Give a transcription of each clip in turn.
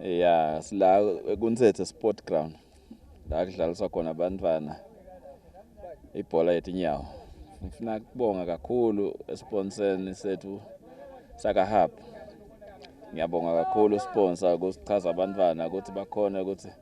ya sila kunsethe sport ground la kudlaliswa khona abantwana ibhola yethu inyawo ngifuna kubonga kakhulu esponseni sethu sakahab ngiyabonga kakhulu sponsor ukusichaza abantwana ukuthi bakhona ukuthi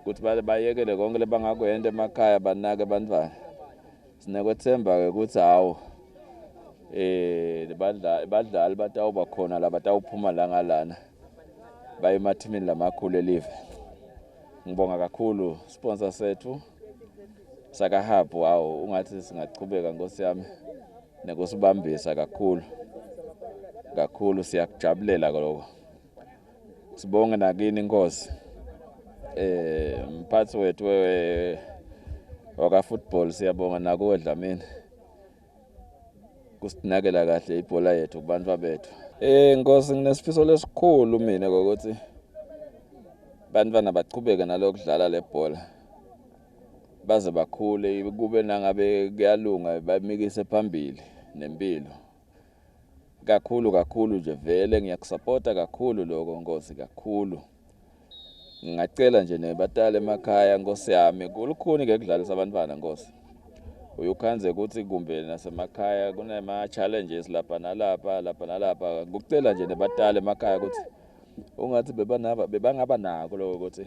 ukuthi bayekele konke lebangakwenta emakhaya banake abantwana sinekwethemba-ke ukuthi hawu eh badlali batawuba khona la batawuphuma la ngalana baye emathimini lamakhulu elive ngibonga kakhulu sponsor sethu sakahub wawo ungathi singaqhubeka nkosi yami nekusibambisa kakhulu kakhulu siyakujabulela lokho sibonge nakini inkosi eh mphathi wethu wewe waka football siyabonga nakuwe Dlamini kusinakela kahle ibhola yethu kubantu bethu eh nkosi nginesifiso lesikhulu mina ukuthi bantwana baqhubeke nalokudlala lebhola baze bakhule kube nangabe kuyalunga bamikise phambili nempilo Kakhulu kakhulu nje vele ngiyakusapota kakhulu lokho Nkosi kakhulu. Ngingacela nje nebatali emakhaya Nkosi yami kulukhuni ke kudlalisa abantwana Nkosi. Uyukhanze ukuthi kumbe nasemakhaya kunema challenges lapha nalapha lapha nalapha. Ngikucela nje nebatali emakhaya ukuthi ungathi bebanaba bebangaba nako lokho ukuthi